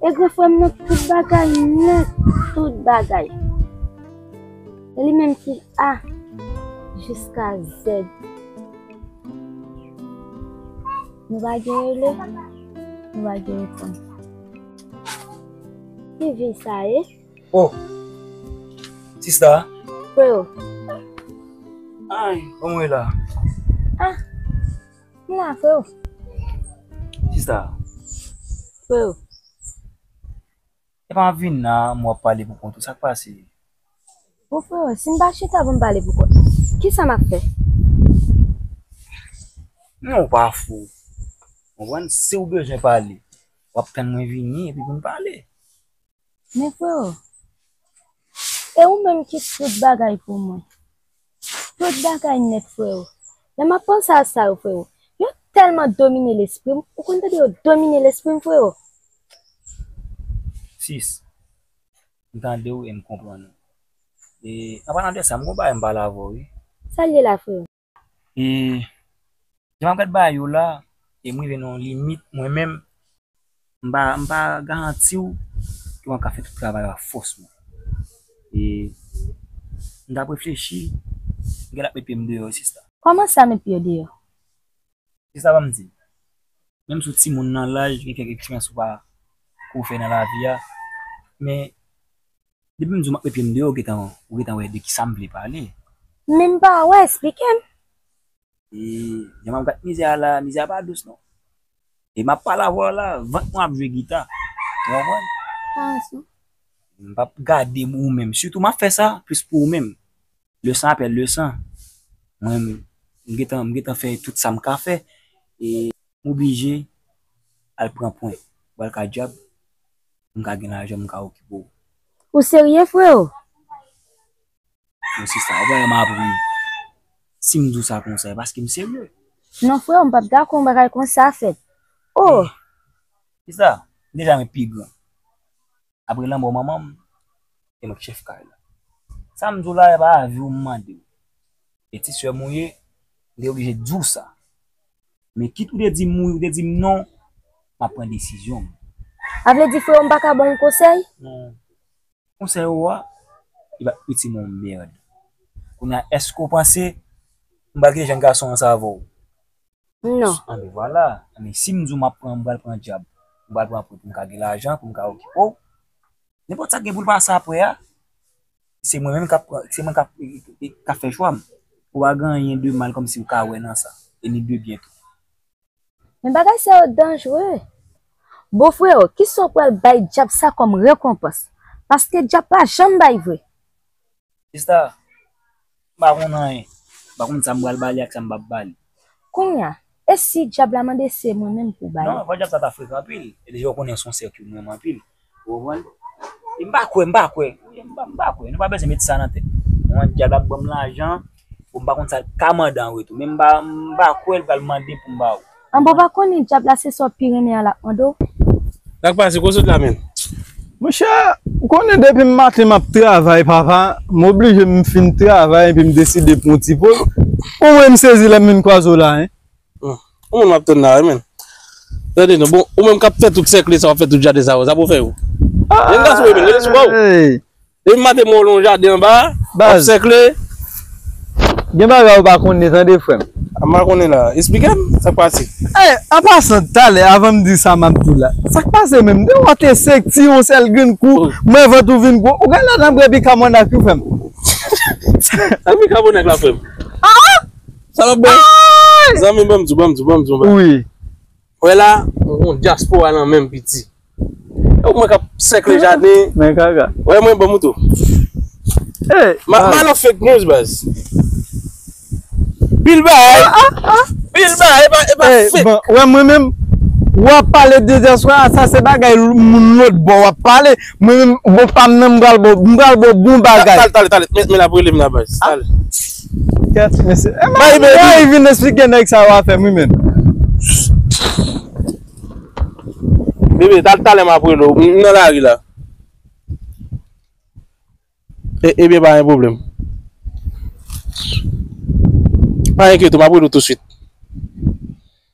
E gran frè m nan tout bagay nèt, tout bagay. E li menm ki A jiska Z. Nou pa gen rele, nou pa gen repons. Ki vi sa ye? Oh! Sista! Freo! Ay! Bon mwen la. Ah! Mwen la freo. Kisa? Freo. Epa wap vin la m wap pale pou kont ou sak pase? Bon freo sim pa chita pou m pale pou kont mwen kisa map fè? Men ou pa fou ou konprann siw bezwen pale wap tann mwen vini epi poun pale. Men freo, e ou menm ki tout bagay pou mwen. Tout bagay nèt freo. Lè map panse a sa yo freo, yo tèlman domine lespri m, ou konn tande yo domine lespri m freo. Sis, m tande w e m konprann ou. E anpalan de sa, m gen yon bagay m pale avè w wi. Sa l ye la freo? E jan map gad bagay yo la, e m rive nan yon limit mwen menm, m pa m pa garanti w ke wap ka fè tout travay yo ak fòs mwen. E m tap reflechi, m gentan ap met pye m deyò wi sista. Kòman sa met pye w deyò? Sista banm di, menm si w timoun nan laj, gen kèk eksperyans ou pa ke w fè nan lavi a, men Depi m di w m ap met pye m deyò ou gentan wè de ki sa m vle pale. M menm pa wè, esplike m. E jan m ap gad mizè a la, mizè a pa dous non. E m ap pale avè w la, vant mwen ap jwe gita. Ou konprann? Pa wè sa. M p ap gade m ou menm. Sitou m ap fè sa plis pou ou menm. Lesan apre lesan. Mwen m gentan fè tout sa m ka fè. E m oblije al pran pwen pou al ka dyab. pou m ka gen lajan m ka okipe w. Ou serye freo? Bon sista, ou pa wè m ap ri. Si m di w sa konsa, e paske m serye. Non freo, m pap dakò yon bagay konsa fèt. Oh! Sista, m deja gen pi gran. Apre lanmò manman m, se mwen ki chèf kay la. Sa m di w la, e pa avi w m mande w. Pitit sè m ou ye, m te oblije di w sa. Men kit ou te di m wi ou te di m non, m ap pran desizyon m. A vle di freo m pa ka ba w konsèy? Non. Konsèy ou a, li pa t itil m yon mèrd. Kounye a, èske ou panse m pral kite jèn gason an sa avè w? Non. Anben vwala. Anben si m di w m ap pran, m pral pran djab. M pral pran pou m ka gen lajan, pou m ka okipe w. Nenpòt sa k gen pou l pase aprè a. Se mwen menm kap se mwen kap kap fè chwam. Ou pa gen anyen de mal kòmsi ou ka wè nan sa. E ni de byen tou. Men bagay sa yo danjre. Bon freo kisa w pral bay dyab sa kòm rekonpans? Paske dyab pa janm bay vre. Sista, M pa konn anyen. M pa konn sa m pral ba li ak sa m pap ba li. Kounye a, e si dyab la mande se mwen menm pou w ba li? Non, fò dyab sa ta frekan anpil. E deja ou konnen se yon sè ki renmen m anpil. Ou konprann? E m pa kwè, m pa kwè. M pa kwè. Nou pa bezwen met sa nan tèt nou. Ou konprann? Dyab la ap ban m lajan pou m pa konn sa l ka mande anretou. Men m pa kwè l pral mande pou m ba ou. An bon pa konnen djab la se sa w pi renmen an lap mande w. Sak pase kow sot la menm. Monchè ou konnen depim maten map travay papa m oblije m fin travay epi m deside pran yon ti poz ou wè m sezi lèm vin kwaze w la hein. Ou menm wap tann la wi menn. Tande non bon ou menm kap fè tout sèkle sa wap fè tout jaden sa yo sa pou fè yo. Gen gason wi menn rete sou baw. Depi maten mwen wè yon jaden anba a, wap sèkle. Gen bagay ou pa konnen tande frèm. M pa konnen la, esplike m, sak pase? Eh, an pasan, talè avan m di sa map di la, sak pase menm? Gen yon te sek ti yon sèl grenn kou, m wè vant ou vin gwo, ou gen lè nan bwè bikabònak tou frèm? Sak bikabònak la frèm? Ah ah! Sa wap bwè? Zanmi m banm di w, banm di w, banm di w yon bagay. Wi. Wè la yon diaspora nan menm piti. Ew mwen kap sèkle jaden. Men kaka. Wè mwen banm tou. Map mal an fake news baz. Pil bagay. Pil bagay epa epa fake. Bon wè mwen menm wap pale de diaspora sa se bagay moun lòt bò wap pale. Mwen menm bon pam nan m pral baw m pral baw bon bagay. Tale tale tale men lap relem la baz tale. Kèt mesye. Mayi baby. Mayi vin esplike nèg sa yo afèm wi menn. Bebe tal talè map rele w m nan lari la. Ebyen pa gen pwoblèm. Pa enkyete w map rele w tou swit.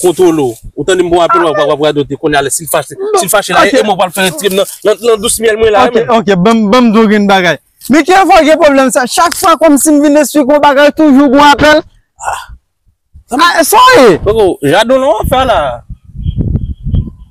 Kontwolo, ou tande m bon apèl wap wap radote kounye a lè sil fache sil fache la e mwen pral fè retirem nan nan dous myèl mwen la wi menn. Ok ok banm banm di w grenn bagay. Men ki enfò gen pwoblèm sa chak fwa kòmsi m vin esplike w bagay toujou gon apèl? Ah sa w ye? Koko, jadon lan wap fè la?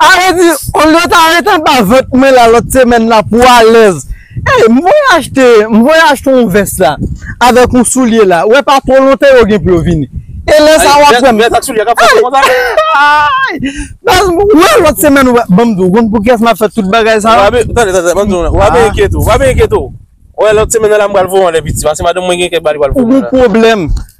A vle di olye w ta ret anba vant mwen la lòt semèn la pou w alèz Ey m voye achte m voye achte yon vès la avèk yon soulye la wè pa twò lontan yo gen pou yo vini E lè sa w ap wè m Vès ak soulye a ka fòse konsa Ayy Baz m wè lòt semèn ou Ban m di w ou konn poukiyès m ap fè tout bagay sa yo Tande tande tande ban m di w ou ap enkyete w ou ap enkyete w Wè lòt semèn nan la m pral voye yon lè piti paske madanm mwen gen kèk bagay li pral voye Ou gen pwoblèm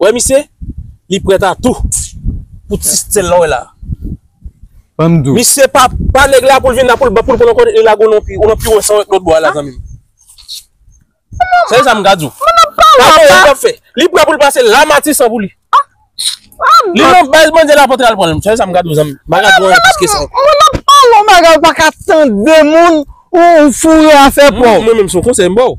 Wè misye li prêt a tou pou ti sèl la wè la. Misye pa pa nèg la poul vin la poul poul konn kote li lague non pi ou nan pi wè sa wè lòt bò a la zanmim. Sèl sa m ka di w. Pa wè sa fè. Li prêt poul pase la matisan pou li. Li nan baz bandi la pote al pran l. Sèl sa m ka di w zanmim. M pa ka di w anyen plis ke sa. Moun nan pa wè w bagay ou pa ka tande moun ou foure afè pa w. Mwen menm son konsèy m ba w.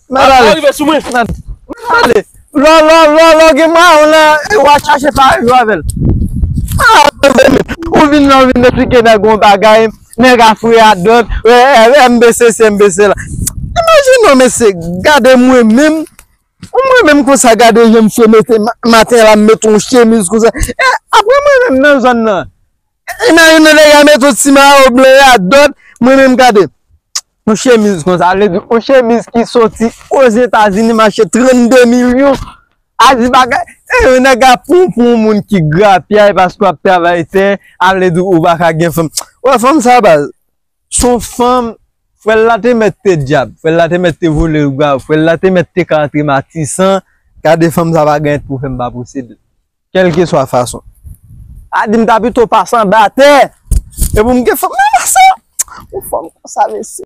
Mwen pa rive sou mwen. Mwen pa ale. Lò lò lò lò gen mwa yon la e wa chache pa rive avèl. Mwen pa ale mezanmi. Ou vin la ou vin esplike nèg yon bagay. Nèg a fre a dòt. Eee MB sesi MB sela. Imajine yon mesye gade mwen menm. Ou mwen menm konsa gade jan misye mete maten la met yon chemiz konsa. E apre mwen menm nan zòn nan. E nan youn nan dega met yon ti mayo blan ya dòt mwen menm gade. Yon chemiz konsa vle di yon chemiz ki soti Ozetazini mache 32 milyon. A di bagay e yon nèg a pou pou yon moun ki grapyay paske w ap travay tè a vle di ou pa ka gen fanm. Ou wè fanm sa baz son fanm frè l la te mèt te dyab, frè l la te mèt te vole l grav, frè l la te mèt te ka antre matisan gade fanm sa pa gen pou fè m pa posede l. Kèlkeswa fason. A di m ta pito pase anba tè. E pou m gen fanm nan sa. Yon fanm konsa mesye.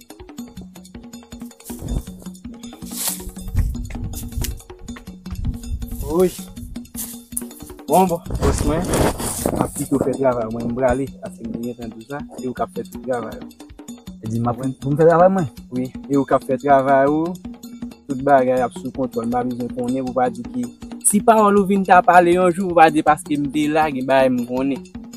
Woy Bon bon Bòs mwen Map kite ou fè travay ou mwen M prale Paske m genyen tan di sa E ou kap fè tout travay ou Ou di map fè Pou m fè travay mwen Wi E ou kap fè travay ou Tout bagay ap sou kontwòl M pa bezwen konnen pou pa di ki Si pawòl ou vin ta pale yon jou Pou pa di paske m te la Gen bagay m konnen